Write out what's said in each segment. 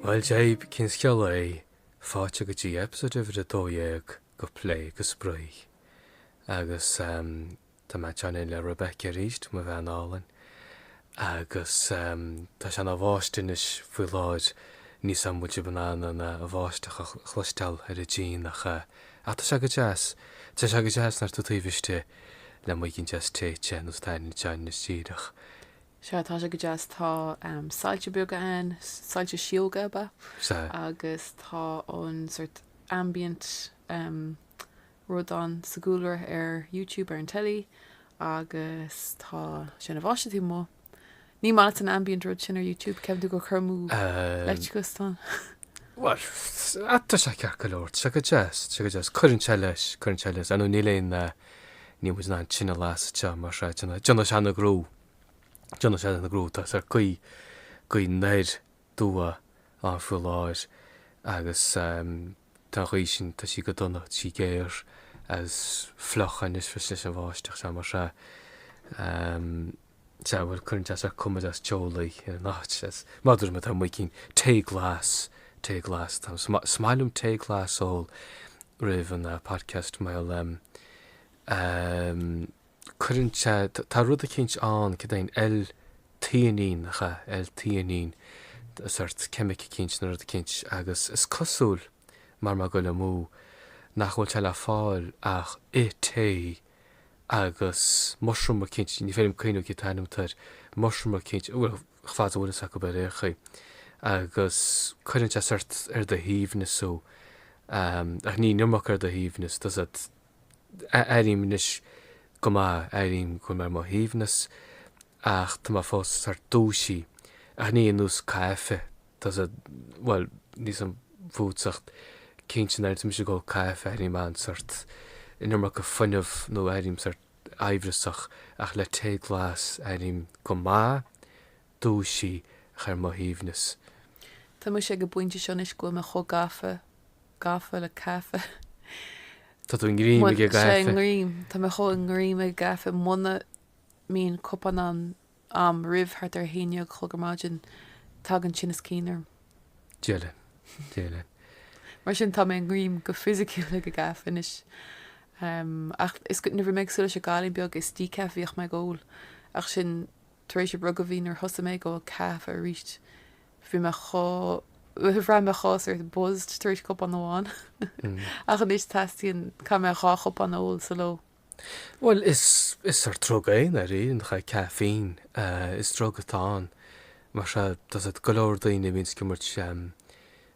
Bhuel Dia dhaoibh, cén scéal é? Fáilte go dtí episode uimhir a dó dhéag de Plé go Spraoi. Agus ehm, tá mé ag teannadh le Rebecca aríst, mo bhean álainn. Agus ehm, tá sé ina bháisteach anois faoi láthair, níl fhios a'm an bhfuil sibh in ann an eh, bháisteach a chloisteáil ar an díon ach eh, ach tá sé go deas, tá sé go deas nuair atá tú taobh istigh. le muigín deas tae te nós atá tú anois díreach. Sea, tá sé go deas. Tá soilse beaga ann, soilse sióga ab ea, agus tá an sort ambient rud ann sa gcúlra ar YouTube, ar an teilí, agus tá sé ina bháisteach taobh amuigh. Ní maith leat an ambient rud sin ar YouTube, ceapann tú gur cur amú leictreachais é? Bhuel, tá sé ceart go leor, tá sé go deas, tá sé go deas. Cuireann sé leis, cuireann sé leis. Anyway, níl aon, níl muid in ann tine a lasadh sa teach mar sin, déanfaidh sé an gnó, déanfaidh sé an gnó, tá sort gaoth, gaoth anoir aduaidh ann faoi láthair agus, Tá an ghaoth sin, tá sí go dona, tá sí géar agus fliuch anois arís leis an mbáisteach seo mar sin. Sea, bhuel, cuireann sé seo cuma deas teolaí ar an áit. Mar dúirt mé, tá muigín tae glas, tae glas, tá, is maith liom tae glas a ól roimh an podcast mar. cuireann sé, tá rud eicínt ann, céard é an L-theanine, nach ea, L-theanine, sort ceimic eicínt nó rud eicínt, agus is cosúil, mara bhfuil mé ag goil amú, nach bhfuil sé le fáil ach i tae, agus mushroom eicínt, ní féidir liom cuimhniú cén t-ainm atá air, mushroom eicínt, bhuel, fad is a bhfuil fhios acu bhuel ar aon chaoi, agus cuireann sé sort ar do shuaimhneas thú, ach ní an iomarca ar do shuaimhneas, tá fhios a'd, Airím anois go maith, airím go bhfuil mé ar mo shuaimhneas, ach tá mé fós sort dúisithe, ach ní ar nós caife tá fhios a'd, bhuel, níl fhios a'm fútsa ach cinnte nuair a bhíonns mise ag ól caife, airím an sort an iomarca fuinnimh nó airím sort aimhreasach, ach le tae glas, airím go maith. dúisithe ach ar mo shuaimhneas. Tá mise ag an bpointe seo anois go bhfuil mé chomh gafa, gafa le caife. Tá tú i ngreim ag an gcaife. Sea, i ngreim. Tá mé chomh i ngreim ag an gcaife, muna mbíonn cupán amháin a'm roimh thart ar a haon déag a chlog ar maidin, tagann tinneas cinn orm. Dia linn. Dia linn. Mar sin, tá mé i ngreim go fisiciúil ag an gcaife anois. Ach is go, nuair a bhí mé ag súil leis an gcailín beag is Decaf a bhíodh mé ag ól. Ach sin. Tar éis a bhruga bhí nuair thosaigh mé ag ól caife arís bhí mé chomh, bhraith mé chomh sort of buzzed tar éis cupán amháin ach anois teastaíonn, caithfidh mé dhá chupán a ól sa ló. Bhuel is, is sort drug é i ndáiríre, nach é, caffeine, is drug atá ann mar tá fhios a'd go leor daoine a bhíonns ag imirt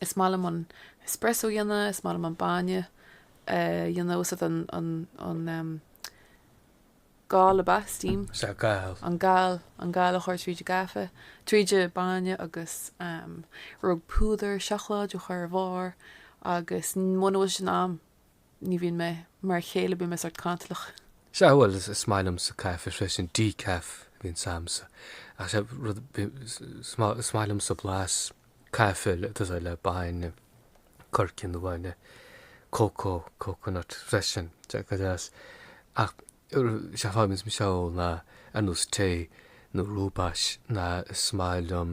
Is maith liom an espresso a dhéanamh, is maith liom an bainne a dhéanamh agus iad an, an, an, ehm, gal, ab ea? steam? Is ea, gal. an gal, an gal a chur tríd an gcaife, tríd an bainne agus, ehm, rud, púdar seacláid a chur ar bharr agus muna bhfuil sin a'm, Ní bhíonn mé mar a chéile, bíonn mé sórt cantalach. Sea, bhuel, is maith liomsa caife freisin, decaf a bhíonns agamsa. Ach sea, rud, is maith liomsa blas caife le, tá fhios a'd, le bainne, coirce nó bainne cócó, coconut, freisin, sea, go deas. Ach, sea, faighim níos mó seo ó na, ar nós tae nó rooibos, na, is maith liom,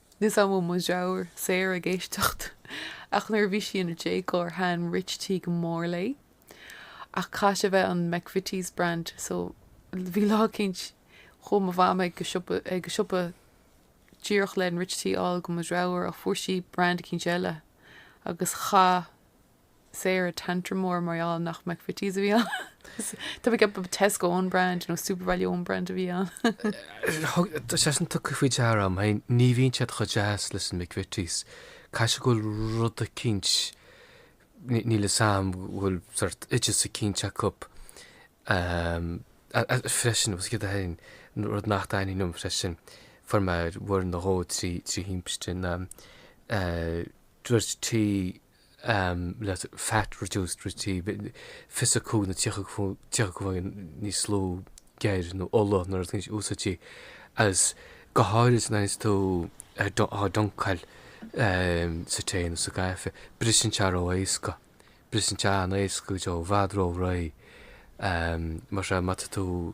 Níl fhios a'm an bhfuil mo dhreabhar Sarah ag éisteacht ach nuair a bhí sí ina déagóir thaitin Rich Tea go mór léi. Ach chaith sé bheith an McVitie's Brand so bhí lá eicínt chuaigh mo Mham ag ag siopadóireacht len Rich Tea a fháil do mo dhreabhar ach fuair sí brand eicínt eile agus chaith Sarah tantrum mór mar gheall nach McVitie's a bhí ann. Tá mé ag ceapadh Tesco own brand nó Supervalu own brand a bhí ann. Tá sé sin tugtha faoi deara orm féin, ní bhíonn siad chomh deas leis an McVitie's. Caithfidh sé go bhfuil rud eicínt, níl fhios a'm go bhfuil sort oideas eicínt acu freisin agus céard a tharraing rud nach dtaithnigh liom freisin, fuair mé uair nó dhó trí thimpiste na Rich Tea. le fat reduced Rich Tea, fiche's a cúig nó tríocha comhionann níos lú geir nó ola nuair a dhéanann siad úsáid di, agus go háirid nuair atá tú á dunkáil sa tae nó sa gcaife, briseann sé ró éasca, briseann sé an-éasca go deo, i bhfad ró réidh, má tá, má tá tú.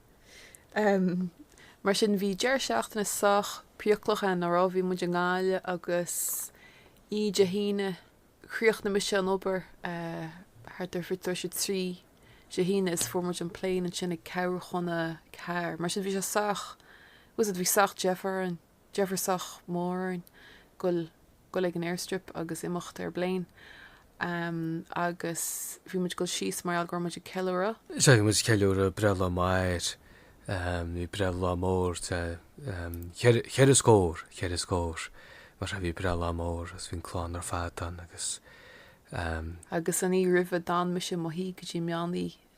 Mar sin, bhí deireadh seachtaine sách priaclach a'inn, nach raibh? Bhí muid i nGaillimh agus oíche Dé hAoine, chríochnaigh mise an obair thart ar fiche tar éis a trí Dé hAoine is fuair muid an plane ansin ag ceathrú chun a ceathair. Mar sin, bhí sé sách, tá fhios a'd, bhí sách deifir orainn. Deifir sách mór orainn goil goil ag an airstrip agus imeacht ar bplane ehm agus bhí muid goil síos mar gheall go raibh muid ag ceiliúradh, bhí muid ag ceiliúradh breithlá m'athair ehm bhí breithlá mór de ehm cheithre cheithre scór cheithre scór mar sin bhí breithlá mór agus bhí an clann ar fad ann agus ehm, Agus an oíche roimhe d'fhan mise i mo shuí go dtí meán oí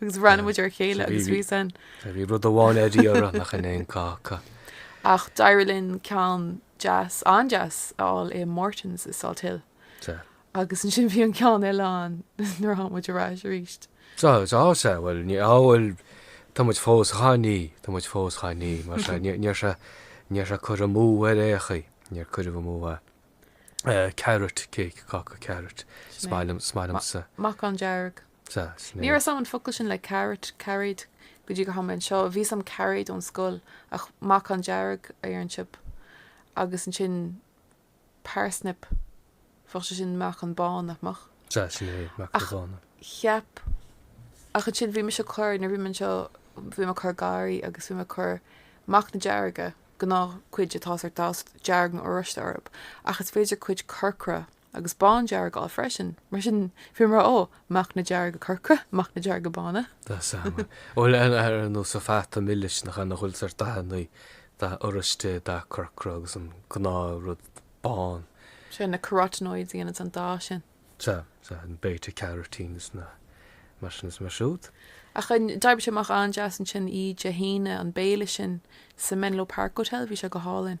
agus roinn muid ar a chéile agus bhí san. Bhí rud amháin ar iarraidh nach raibh aon cáca. Ach d'éirigh linn ceann deas, an-deas, a fháil i Morton's i Salthill. Sea. Agus ansin bhí an ceann eile ann nuair a tháinig muid ar ais arís. Sea, sea, sea, bhuel, ní, á, bhuel, tá muid fós dhá n-ithe, tá muid fós dhá n-ithe, mar sea, ní, ní raibh sé, ní raibh sé curtha amú ar aon chaoi, níor cuireadh amú é, eh, carrot cake, cáca carrot, is maith liom, is maith liomsa. Meacan dearg. Ní raibh a fhios agam an focal sin le carrot, cairéad, go dtí gur tháinig mé anseo. Bhí a fhios agam cairéad ón scoil, ach meacan dearg, iarnship, agus ansin parsnip, bheadh sé sin meacan bán, nach mbeadh? Sea, sin é, meacain bhána. Ach cheap, ach ansin bhí mise ag cur, nuair a bhí mé anseo, bhí mé ag cur garraí agus bhí mé ag cur meacna dearga, gnáthchuid atá sórt dath dearg nó oráiste orthu, ach is féidir cuid corcra, agus bándearg a fháil freisin. Mar sin, bhí mé mar, ó, meacna dearga corcra, meacna dearga bána. Tá seana, bhuel, ar nós an fhata milis, nach ea, nach bhfuil sórt dathannaí, dath oráiste, dath corcra agus an gnáth rud bán. Sea, na carotenoids a dhéananns an dath sin. Sea, sea, an beta carotene is na, mar sin is mar siúd. Ach d'oibrigh sé amach an-deas ansin oíche Dé hAoine, an béile sin sa Menlo Park Hotel, bhí sé go hálainn.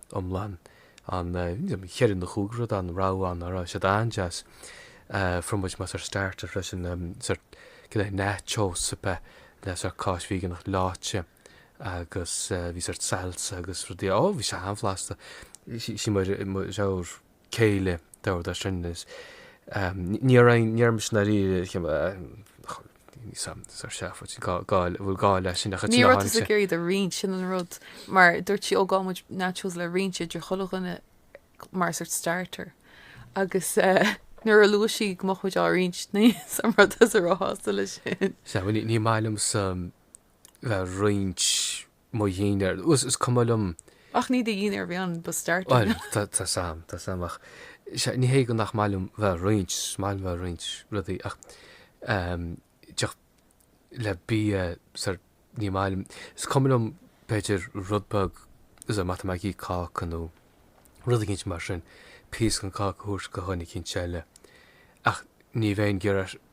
iomlán an cheithre nó chúig rud ann a raibh ann a raibh siad an-deas fuair muid mar sórt starter freisin sórt cineál nachos a bheith le sórt cáis veigeánach leáite agus bhí sórt salsa agus rudaí ó bhí sé an-bhlasta sí mar raibh céile, tabhair dar sin, is níor fhan, níor fhan sin dáiríre, níl a fhios agam, sórt seafóid, gá, gá, an bhfuil gá leis sin ach ansin tháinig sé. Ní raibh tusa ag iarraidh iad a roinnt, sin an rud, mar dúirt sí, ó, gheobhaidh muid nachos le roinnt idir chuile dhuine mar sórt starter agus eh nuair a luaigh sí go mbeadh muid á roinnt, níl a fhios agam an raibh tusa róshásta leis sin. Sea, ní, ní maith liomsa bheith ag roinnt. mo dhinnéar. Is cuma liom. Ach ní do dhinnéar a bhí ann, ba starter é. Bhuel, tá, tá a fhios agam, tá a fhios agam ach, sea, ní hé go nach maith liom bheith a' roinnt, is maith liom bheith a' roinnt rudaí ach ehm tá a fhios agat, le bia sórt ní maith liom, is cuma liom b'fhéidir rud beag is má tá mé ag ithe cáca nó rud eicínt mar sin, píos gon cáca a thabhairt go dhuine eicínt eile ach ní bheinn ag iarraidh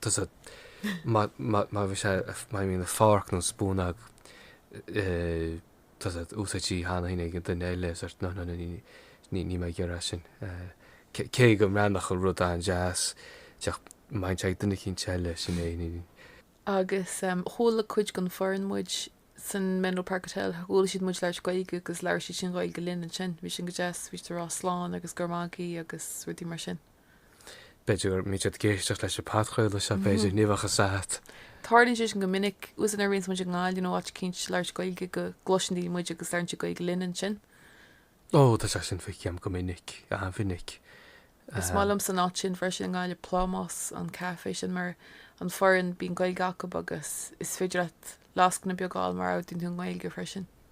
tá a fhios agat, má bhí sé má bhí an forc nó spúnóg, tá a fhios agat, úsáidtí cheana féin ag an duine eile sórt nó nó ní ní bheinn ag iarraidh sin. Cé go mbeadh an rud an-deas dá mbeadh sé ag duine eicínt eile sin é ní. Agus chuala cuid den fhoireann muid san Menlo Park Hotel chuala siad muid ag labhairt Gaeilge agus labhair siadsan Gaeilge linn ansin. Bhí sin go deas bhí siad a' rá slán agus go raibh maith agat agus rudaí mar sin. b'fhéidir go mbíonn siad ag éisteacht leis an podchraoladh seo, b'fhéidir, ní bheadh a fhios a't. Tarlaíonn sé sin go minic, tá a fhios a't nuair a bhíonns muid i nGaillimh nó áit eicínt ag labhairt Gaeilge go gcloiseann daoine muid agus labhraíonn siad Gaeilge linn ansin. Ó, tá sé sin feicthe agam go minic, an-mhinic. Is maith liomsa an áit sin freisin i nGaillimh, Plámás, an caifé sin mar an fhoireann, bíonn Gaeilge acub agus is féidir leat lascaine beag a fháil má ordaíonn tú i nGaeilge freisin.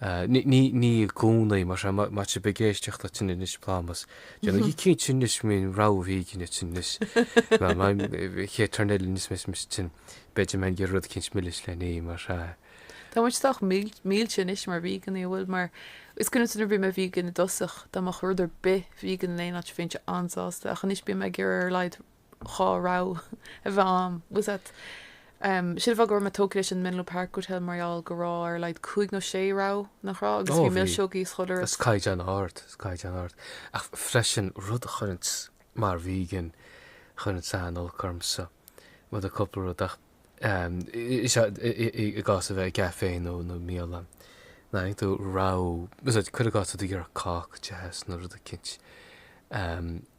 Ní i gcónaí, mar seo, má tá sibh ag éisteacht linne anois, Plámás. Déanaigí cinnte anois go mbíonn rogha vegan agaibh anois. An chéad turn eile anois a bheas mise ansin, beidh mé ag iarraidh rud eicínt milis le n-ithe, mar seo. Tá muid sách millte anois mar veganaí, nach bhfuil, mar is cuimhin liom nuair a bhí mé vegan i dtosach, dá mbeadh rud ar bith vegan in aon áit bhí mise an-sásta, ach anois bím ag iarraidh ar a laghad dhá rogha a bheith ann. Bhfuil a fhios a't um, sin an fáth go raibh mé tógtha leis an Menlo Park Hotel mar gheall go raibh ar a laghad cúig nó sé rogha nach raibh agus Ó, bhí bhí. milseogaí is chuile shórt agus. caighdeán ard, is caighdeán ard. Ach freisin, rud a chuireanns, mar vegan, chuireanns an-olc ormsa, rud ar cúpla rud ach um, is ea, i, i, i, i gcás a bheith i gcafé nó, nó i mbialann, an t-aon rogha, bhfuil a fhios a't, cuir i gcás tá tú ag iarraidh cáca deas, nó rud eicínt, um,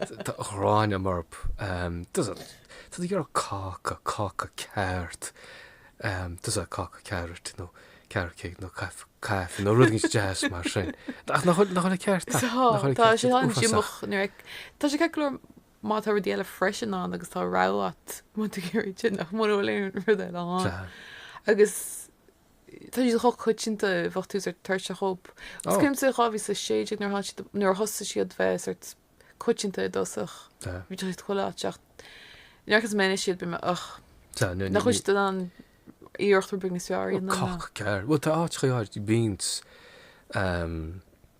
ghráin a'm orthub. Tá a fhios a't. Tá tú ag iarraidh cáca, cáca ceart. Tá a fhios a't cáca ceart nó carrot cake nó caife nó rud éigin deas mar sin. Ach nach bhfuil, nach bhfuil an ceart a'm? Tá, tá sé an-díomách nuair a, tá sé ceart go leor má tá rudaí eile freisin ann agus tá rogha agat má tá tú ag iarraidh ceann, ach mura bhfuil aon rud eile ann. Tá. Agus. Tá siad chomh coitianta i bhfeadh tús ar Toirt a Hope. Is cuimhin liom 2016 nuair a tháinig siad, nuair a thosaigh siad a bheith sort coitianta i dtosach. Bhí siad chuile áit ach nuair agus meineadh siad bhí mé ugh. Nach bhfuil siad in ann iarracht rud beag níos fearr a dhéanamh ná. Coc gearr. Bhuel tá áit chuig áit, bhí beans.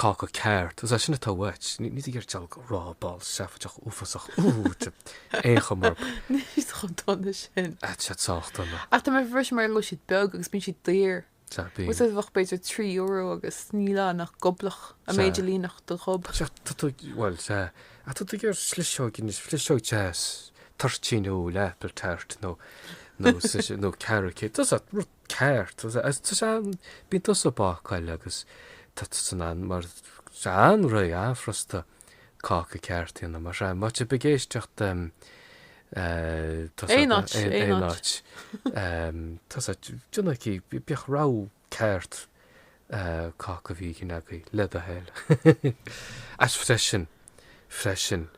cáca ceart, is é sin atá uait, níl tú ag iarraidh diabhal de raw ball seafóideach uafásach ar chuma ar bith. Níl siad chomh dona sin. Tá siad sách dona. Ach tá mé ag brisfidh mar go bhfuil siad beag agus bíonn siad daor. Tá, bíonn. Tá a fhios a't bheadh b'fhéidir trí euro agus níl ann ach goblach, an méid a líonfadh do ghob. Sea, tá tú, bhuel, sea, ach tá tú ag iarraidh sliseog anois, sliseog deas, toirtín úll, apple tart nó nó nó carrot cake, tá a fhios a't, rud. ceart. Bíonn tusa ag bácáil agus tá tusa in ann, mar tá sé an-réidh, an-fhrusta cáca ceart a dhéanamh mar seo. Má tá sibh ag éisteacht tá a fhios a't aon áit, aon áit, tá a fhios a't déanaigí, bíodh rogha ceart cáca vegan agaibh, le do thoil. Ach freisin, freisin,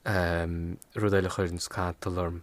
rud eile a chuireanns cantal orm,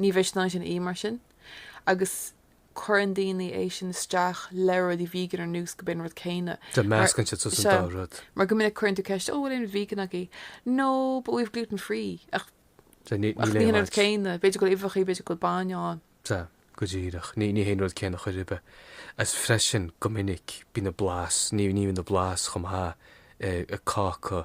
Ní mhisneach sin í, mar sin, agus cuireann daoine é sin isteach le rudaí vegan ar nós go b'é an rud céanna. Sea, meascann siad suas an dá rud. Mar go minic cuireann tú ceist, Ó, bhfuil aon rud vegan agaibh? No, but we've gluten free. Ach, ach ní hé an rud céanna. B'fhéidir go bhfuil uibheachaí, b'fhéidir go bhfuil bainne ann. Sea, go díreach. Ní, ní hé an rud céanna chor ar bith. Agus freisin, go minic, bíonn an blas, ní, ní bhíonn an blas chomh maith i, i cáca,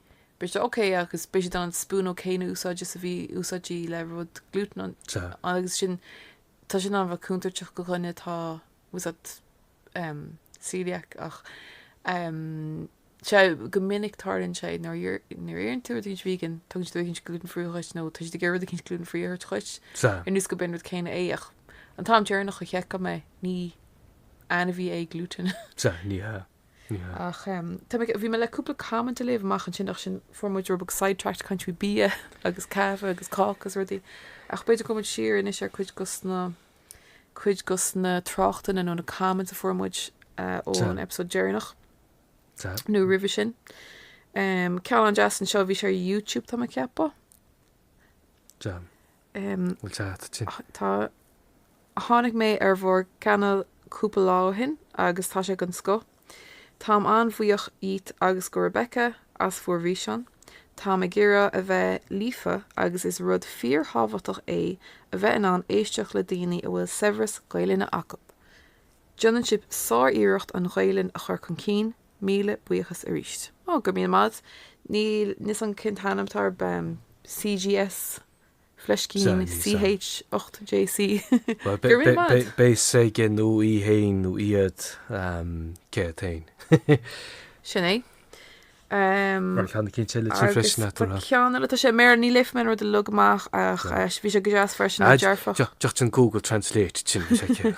Beidh siad ok agus beidh siad an spúnóg chéanna a úsáid is a bhí úsáidte le rud glútan ann agus sin tá sin an-chontúirteach go dhuine atá tá's a'at em celiac ach em sea go minic tarlaíonn sé nuair nuair iarrann tú rud eicínt vegan tugann siad rud eicínt glútan free dhuit nó tá siad ag iarraidh rud eicínt glútan free a thabhairt dhuit sea ar nós go b'é an rud céanna é ach an t-am deireanach a sheiceáil mé ní ainmhí é glútan sea ní hea. Ach tá mé, bhí mé le cúpla comment a léamh amach ansin ach sin fuair muid rud beag sidetracked ag caint faoi bia agus caife agus cáca agus rudaí ach b'fhéidir gabhfaidh muid siar anois ar cuid dos na cuid dos na tráchtanna nó na comments a fuair muid ón episode deireanach nó roimhe sin. Um, ceann an-deas anseo bhí sé ar YouTube tá mé ag ceapadh. Bhfuil sé a'at ansin? Tá. Tháinig mé ar bhur gcainéal cúpla lá ó shin agus tá sé den scoth. Táim an-bhuíoch dhíot agus go Rebecca as bhur bhfíseán. Táim ag iarraidh a bheith líofa agus is rud fíor-thábhachtach é a bheith in ann éisteacht le daoine a bhfuil saibhreas Gaelainne acu. Déanann sibh sár-iarracht an Ghaelainn a chur chun cinn, Míle buíochas arís. Oh, go raibh míle maith. Níl a fhios a'm cén t-ainm atá air, CGS fleiscín CH 8 JC. Well, go raibh míle maith. bé s'aige nó í fhéin nó iad cé féin. Sin é. Um, Mar chan cin le tí freisin atúna. Ceann eile, tá sé, ní léifidh mé an rud uilig amach ach bhí sé go deas freisin dearfach. Deach an Google Translate ansin.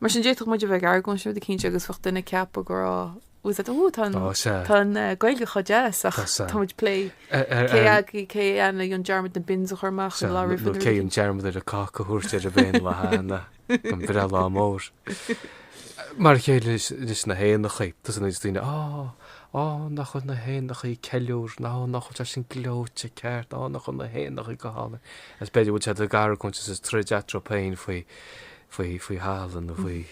Mar sin d'fhéadfadh muid a bheith ag argóint ó go cinnte agus bheadh duine ag ceapadh go raibh, tá's a'at, oh, tá an, tá an Gaeilge chomh deas ach tá muid ag plé ar, cé ag, cé a dhéanfaidh an dearmad na bins a chur amach nó lá roimh an, nó cé an dearmad ar an cáca a thabhairt ar an bhféin lá cheana gan breithlá mór. Mar a chéile leis na héanachaí, tá's a'at, bíonn daoine, á, á, nach bhfuil na héanachaí ag ceiliúr, ná nach bhfuil sé sin gleoite, ceart, á, nach bhfuil na héanachaí go hálainn. Agus b'fhéidir go bhfuil siad ag argóint is ag troid eatarthu féin faoi, faoi faoi thalamh nó faoi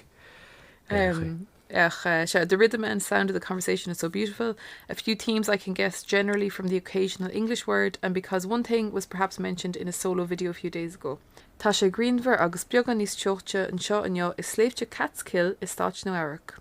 um, Ach uh, sure, the rhythm and sound of the conversation are so beautiful. A few themes I can guess generally from the occasional English word and because one thing was perhaps mentioned in a solo video a few days ago. Tá sé grianmhar agus beagán níos teochte anseo inniu i sléibhte Catskill i Stát Nua-Eabhrac.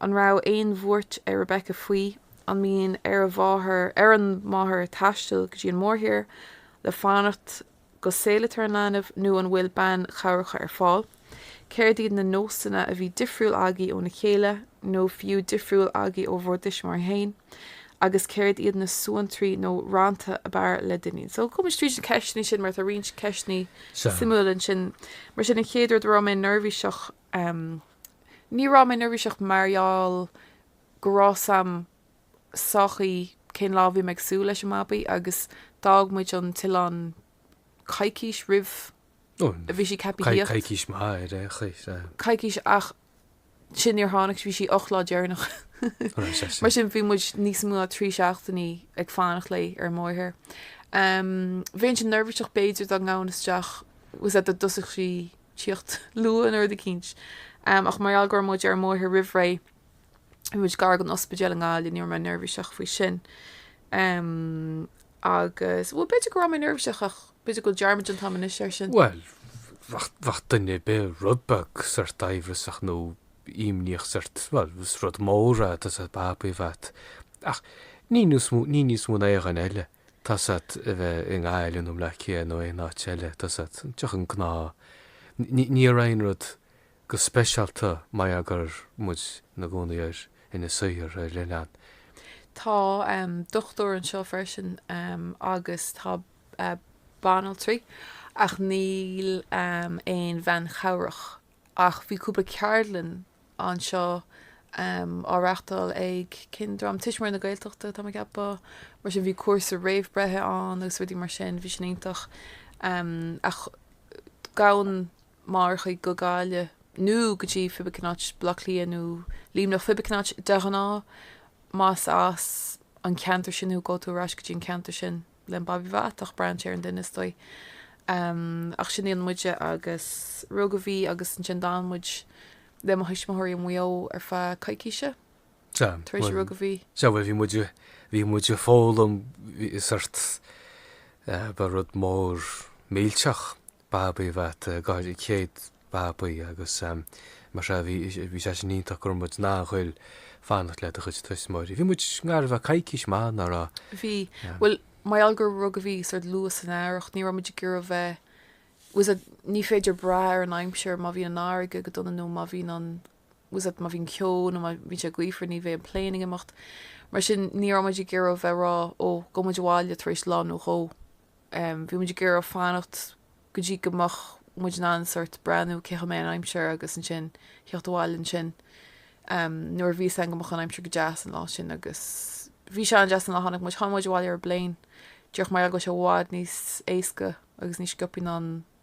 An raibh aon bhuairt ar Rebecca faoi an mian ar a mháthair, ar an máthair taisteal go dtí an mórthír le fanacht go saolaítear an leanbh nó an bhfuil bean chabhrach ar fáil? Céard iad na nósanna a bhí difriúil agaibh óna chéile nó fiú difriúil agaibh ó bhur dtuismitheoirí féin agus céard iad na suantraí nó rannta ab fhearr le d'iníon? So gabhfaidh muid tríd na ceisteanna sin mar tá roinnt ceisteanna suimiúla ansin. Mar sin an chéad rud an raibh mé neirbhíseach um Ní raibh mé neirbhíseach mar gheall go raibh a fhios agam sách maith cén lá a bhí mé ag súil leis an mbabaí agus d'fhág muid an t-oileán coicís roimh a bhí sí ceaptha a thíocht. coicís maith ar aon chaoi. coicís ach sin níor tháinig sí, bhí sí ocht lá deireanach. Mar sin bhí muid níos mó ná trí seachtainí ag fanacht léi ar an mórthír. Um Bheinn sin neirbhíseach b'fhéidir dá ngabhfainn isteach tá a fhios agat dá dtosódh sí tíocht luath nó rud eicínt, ach mar gheall go raibh muid ar an mórthír roimh ré, bhí muid gar don ospidéal i nGaillimh, ní raibh mé neirbhíseach faoi sin. Agus, bhuel, b'fhéidir go raibh mé neirbhíseach ach b'fhéidir go bhfuil dearmad déanta agam anois air sin. Bhuel, bheadh duine ar bith rud beag sórt aimhreasach nó imníoch sórt, bhuel, is rud mór é, tá a fhios agat, babaí a bheith agat. Ach ní níos mó, ní níos mó ná aon duine eile. tá a fhios agat a bheadh i nGaillimh nó i mBleá Cliath nó aon áit eile tá a fhios agat, díreach an gnáth. Ní raibh aon rud go speisialta mar gheall go raibh muid ina gcónaí ar Inis Oírr, ar oileán. Tá dochtúir anseo freisin agus tá banaltraí ach níl aon bhean chabhrach Ach bhí cúpla ceardlann anseo á reáchtáil ag cén dream Tuismitheoirí na Gaeltachta, tá mé ag ceapadh. Mar sin bhí cúrsa réamh breithe ann agus rudaí mar sin, bhí sin iontach. Ach gabhann mórchuid go Gaillimh nó go dtí cibé cén áit Baile Átha Cliath nó Luimneach, cibé cén áit de ghnáth, más as an ceantar sin thú, gabhfaidh tú ar ais go dtí an ceantar sin. len babaí a bheith agat ach braitheann sé ar an duine is dóigh ach sin a dhéanann muide agus rugadh a bhí agus ansin d'fhan muid le mo thuismitheoirí i Maigh Eo ar feadh coicíse tar éis a rugadh a bhí. Sea bhuel bhí muid bhí muid ag foghlaim bhí sórt ba rud mór millteach Babaí a bheith agat go háirithe céad babaí agus mar seo bhí bhí sé sin iontach go raibh muid in ann a ghoil fanacht le do chuid tuismitheoirí. Bhí muid i ngar a bheith coicís maith nach raibh? Bhí. Bhuel mar gheall gur rugadh a bhí sórt luath san Earrach ní raibh muid ag iarraidh bheith tá a fhios agat ní féidir brath ar an aimsir má bhíonn an fharraige go dona nó má bhíonn an tá a fhios agat má bhíonn ceo nó má bhíonn sé gaofar ní bheidh an plane ag imeacht mar sin ní raibh muid ag iarraidh bheith ag rá ó gabhfaidh muid abhaile tar éis lá nó dhó. Bhí muid ag iarraidh fanacht go dtí go mbeadh muid in ann sórt breathnú cén chaoi a mbeadh an aimsir agus ansin theacht abhaile ansin. Nuair a bhí fhios againn go mbeadh an aimsir go deas an lá sin agus bhí sé an-deas an lá tháinig muid. Tháinig muid abhaile ar an bpléin. Díreach mar gheall go raibh sé i bhfad níos éasca agus níos sciobthaí ná an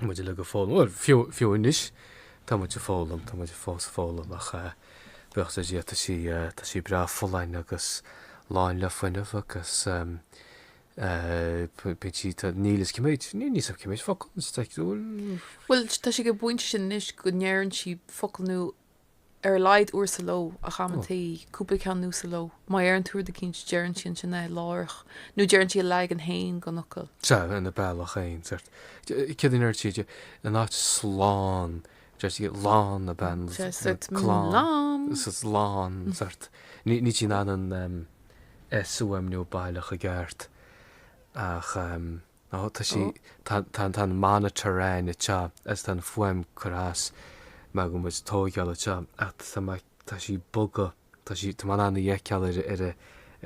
muid uilig ag foghlaim, bhuel, fiú, fiú anois tá muid ag foghlaim, tá muid fós ag foghlaim ach eh buíochas le Dia tá sí eh, tá sí breá folláin agus lán le fuinneamh agus em eh bíonn sí, tá, níl fhios, cé mhéad, ní, níl fhios agam cé mhéad focal, is like, bhuel, Bhuel, tá sí ag an bpointe sin anois go ndeireann sí focal nua ar a laghad uair sa ló, ach amantaí cúpla ceann nua sa ló. Má deireann tú rud eicínt, deireann sí ansin é, láithreach, nó deireann sí a leagan fhéin den fhocal. Sea, ina bealach fhéin, sórt. Céard a deir sí? In áit slán, deir sí lán na beann, Sea, nó sórt, mm, slán, lán. sea, lán, sórt. Ní, níl sí in ann an, em, S a fhuaimniú baileach i gceart, ach, em. nó tá sí, tá, tá an monitor againn anseo agus tá an fuaim curtha as mar go bhfuil muid ag tóigeáil é seo ach tá má, tá sí boga, tá sí, tá mé in ann í a fheiceáil ar, ar,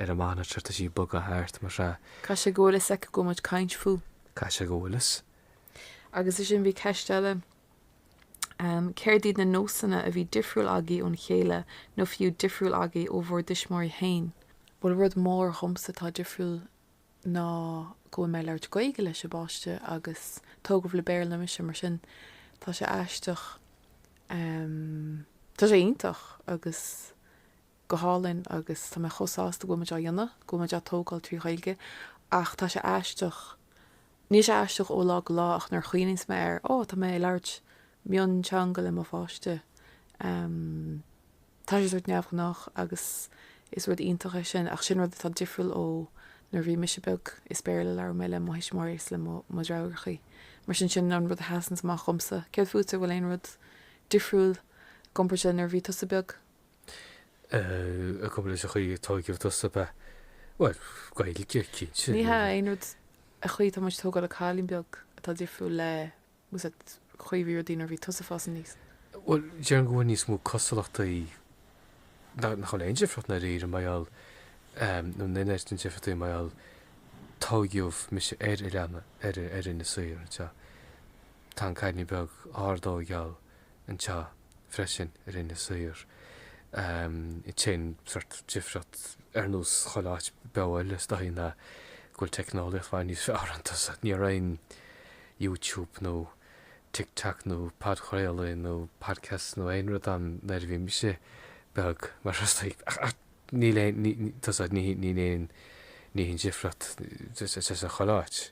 ar an monitor, tá sí ag bogadh thart mar sea. Caithfidh sé go bhfuil fhios aici go bhfuil muid ag caint fúithi. Caithfidh sé go bhfuil fhios. Agus ansin bhí ceist eile ehm céard iad na nósanna a bhí difriúil agaibh óna chéile nó fiú difriúil agaibh ó bhur dtuismitheoirí féin? Bhuel rud mór dhomsa atá difriúil ná go bhfuil mé ag labhairt Gaeilge leis an bpáiste agus tógadh le Béarla mise, mar sin tá sé aisteach em tá sé iontach agus go hálainn agus tá mé chomh sásta go bhfuil muid á dhéanamh, go bhfuil muid á tógáil trí Ghaeilge ach tá sé aisteach, níl sé aisteach ó lá go lá ach nuair a chuimhníos mé air, ó tá mé ag labhairt mionteanga le mo pháiste, em. Tá sé sórt neamhghnách agus is rud iontach é sin ach sin rud atá difriúil ó nuair a bhí mise beag, is Béarla a labhair mé le mo thuismitheoirí is le mo dheirfiúrachaí. Mar sin, sin an rud a sheasanns amach dhomsa. Céard fútsa, an bhfuil aon rud difriúil i gcomparáid le nuair a bhí tusa beag? Eh, i gcomparáid le an chaoi a tógadh tusa, beh, bhuel, Gaeilge, cinnte. Ní hea, aon rud, an chaoi atá muid ag tógáil an cailín beag atá difriúil le leis an gcaoi a bhí rudaí nuair a bhí tusa ag fás aníos. Bhuel, déarfainn go bhfuil níos mó cosúlachtaí, nach bhfuil aon difríocht i ndáiríre mar gheall, nó níl aon difríocht mar gheall, tóigeadh mise ar oileán ar ar Inis Oírr anseo. Tá an cailín beag á tóigeáil anseo freisin ar Inis Oírr. An t-aon sórt difríocht ar nós chuile áit beo eile is dóichí ná go bhfuil teicneolaíocht níos fearr anois so ní raibh aon YouTube nó TikTok nó podchraoladh nó podcasts nó aon rud ann nuair a bhí mise beag mar is like ach níl aon ní tusa ní ní ní haon ní haon difríocht is is is a chuile áit.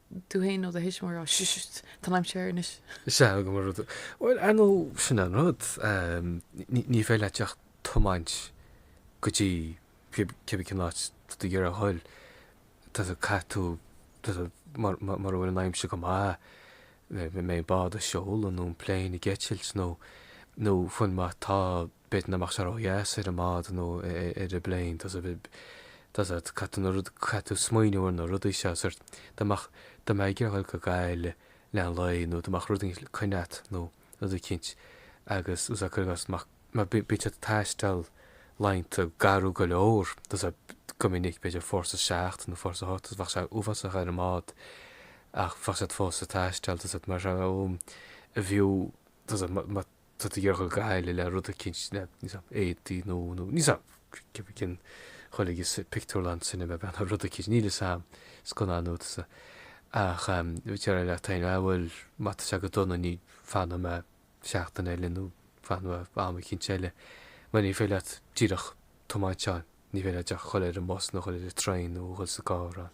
tú fhéin nó do thuismitheoir á sh-sh-sh-sh tá an aimsir air anois. Sea, go bhfuil rud. Bhuel, ar ndóigh, sin an rud. ehm, ní, ní féidir leat ach tiomáint go dtí cib, cibé cén áit do cheann scríbe. Tusa, caithfidh tú, tusa, mur, mur, mura bhfuil an aimsir go maith, má, má, má bhíonn an bád ag seoladh nó an plane ag eitilt nó, nó fiú má tá, b'fhéidir nach mbeidh sé ródheas ar an mbád nó ar an bplane, tá 's a'd, tá 's a'd, caithfidh tú na rudaí, caithfidh tú smaoineamh ar na rudaí seo, sórt, dá mbeadh, dá mbeadh ort dul go Gaillimh don lá nó dá mbeadh rud éigin coinne a't nó rud eicínt agus tá 's a'd, cuir i gcás, mbeadh, má bhí, bíonn siad ag taisteal laethanta gairid go leor, tá 's a'd, go minic, b'fhéidir fórsa a seacht nó fórsa a hocht agus bheadh sé uafásach ar an mbád ach bheadh siad fós ag taisteal, tá 's a'd, marab fhiú, tá 's a'd, má. tá tú ag dul go Gaillimh le rud eicínt, le, níl 's a'm, éadaí nó, nó, níl 's a'm, cibé cén, dhul ag an bpictiúrlann, cinema, bean nó rud eicínt, níl fhios a'am, scannán nó tá 's a'd. Ach, em, déarfá leat féin, ah bhuel, má tá sé go dona fanfaidh mé seachtain eile nó fanfaidh mé am eicínt eile. Mar ní féidir leat díreach tiomáint ann, ní féidir leat díreach dhul ar an mbus nó dhul ar an traein nó dhul sa gcarr ann.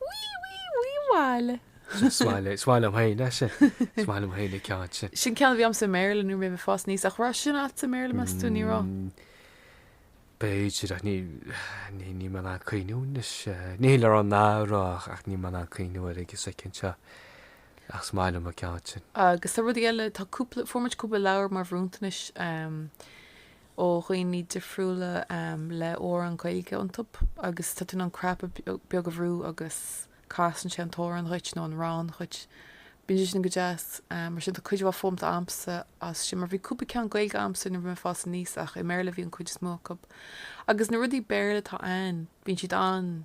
Wee wee wee wail. Sin is maith liom, is maith liom féin é sin, is maith liom féin an ceann sin. Sin ceann a bhí a'msa i mBéarla nuair a bhí mé ag fás aníos, ach raibh sin a'tsa i mBéarla meas tú, ní raibh? B'fhéidir ach ní, ní, níl mé in ann cuimhniú anois, níl mé ag rá nach raibh ach, ach níl mé in ann cuimhniú air ag an soicind seo ach is maith liom an ceann sin. Agus tá rudaí eile, tá cúpla, fuair muid cúpla leabhar mar bhronntanais, ó dhaoine difriúla le hamhráin Ghaeilge iontu agus tá tú in ann cnaipe beag a bhrú agus casann sé an t-amhrán dhuit nó an rann dhuit. Bíonn sé sin go deas. Mar sin tá cuid mhaith foghlamtha a'msa as sin mar bhí cúpla ceann Gaeilge a'msa nuair a bhí mé ag fás aníos ach i mBéarla a bhí an cuid is mó acu. Agus na rudaí Béarla atá a'ainn bíonn siad an-.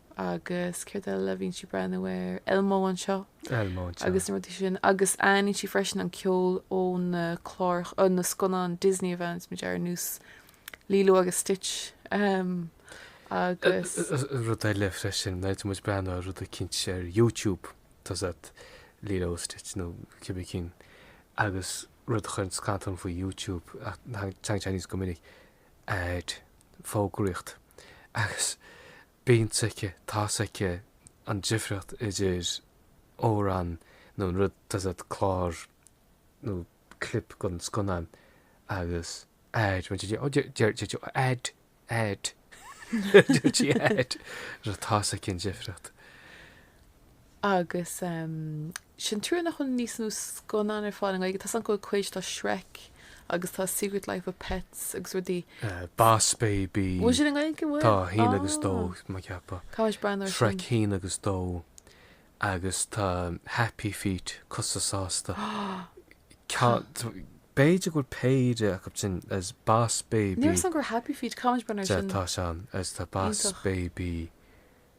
agus céard eile, bhíonn sí ag breathnú ar Elmo anseo. Elmo anseo. Agus na rudaí sin agus aithníonn sí freisin an ceol ó na cláracha, ó na scannáin Disney a bhreathnaigh muid ar ar nós Lilo agus Stitch ehm agus. rud eile freisin, bheadh muid breathnú ar rud eicínt ar YouTube tá 's a'd Lilo agus Stitch nó cibé ceann agus rud a chuireann as dom faoi YouTube ná tagann ads go minic. ad fógraíocht agus bíonn 's aici, tá 's aici an difríocht idir amhrán nó an rud, tá 's a'd, clár nó clip den scannán agus ad, bíonn sí ag, deir sí ad, ad, deir sí ad, tá 's aici an difríocht. Agus is an trua nach bhfuil níos mó scannán ar fáil i nGaeilge. Tá 's agam go bhfuil cuid, tá Shrek agus tá Secret Life of Pets agus rudaí. Boss Baby. Bhfuil sin i nGaeilge bhfuil? Tá a haon agus a dó, tá mé ag ceapadh. Caithfidh muid breathnú air sin. Shrek a haon agus a dó agus tá Happy Feet, cosa sásta. B'fhéidir go bhfuil péire acu sin is Boss Baby. Ní raibh 's agam faoi Happy Feet, caithfidh muid breathnú air sin. Tá sé ann is tá Boss Baby.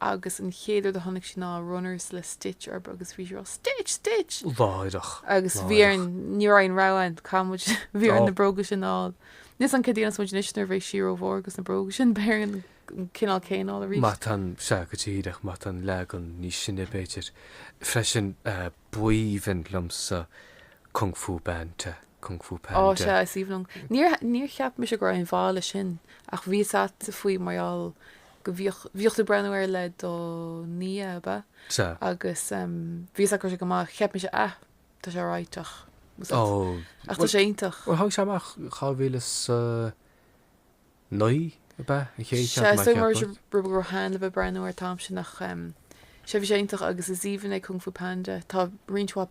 agus an chéad rud a chonaic sí ná Runners le Stitch orthu agus bhí sí ag rá Stitch! Stitch! Láithreach! Agus bhí orainn, ní raibh aon rogha ann, caithfidh muid, bhí orainn na bróga sin a fháil. Níl 's agam céard a dhéanfas muid anois nuair a bheidh sí ró-mhór agus na bróga sin, beidh orainn an cineál céanna a fháil arís. Matán, Sea, go díreach, matán, leagan níos sine, b'fhéidir. Freisin, b'aoibhinn liomsa Kung Fu Banta, Kung Fu Panda. Ó, sea, is aoibhinn liom. Níor, níor cheap mise go raibh aon mhaith leis sin ach bhí 's agat faoi mar gheall, go mbíodh, bhíodh tú ag breathnú air le do nia, ab ea? Sea. Agus ehm bhí 's agat go raibh sé go maith, cheap mise, á, tá sé alright ach was it, Oh, ach tá sé iontach. Bhuel tháinig sé amach dhá mhíle 's a naoi, ab ea? An chéad cheann Sea, nach so mar cheap sin, mé. rud a raibh Hanlon a' breathnú air, an t-am sin ach ehm sea bhí sé iontach agus is aoibhinn liom Kung Fu Panda, tá roinnt mhaith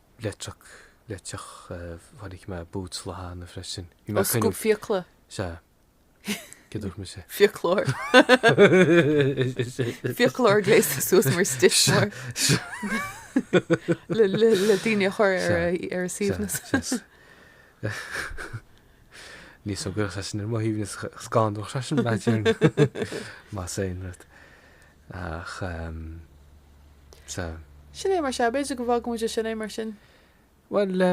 Leictreach, leictreach, tháinig mé boots le Teanna freisin. Bhí mé ag caoineadh. Ó, scuab fiacla. Sea. Céard a dúirt mise? Fiaclóir. Fiaclóir gléasta suas mar stiffmore le daoine a chur ar a suaimhneas. Ní shuaimhneodh seisean ar mo shuaimhneas, scanródh seisean, más aon rud. Ach sa. Sin é mar sea, b'fhéidir go bhfágfaidh muid é sin, é mar sin. Bhuel,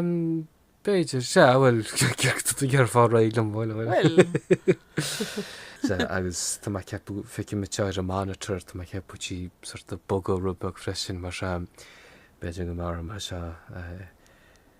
b'fhéidir, sea, bhuel, céard a déarfá réidh liom, bhuel, bhuel. Bhuel. Sea, agus tá mé ag ceapadh, feicim í seo ar an monitor, tá mé ag ceapadh go bhfuil sí sórt ag bogadh rud beag freisin mar sea, b'fhéidir go mairfidh mé seo, eh,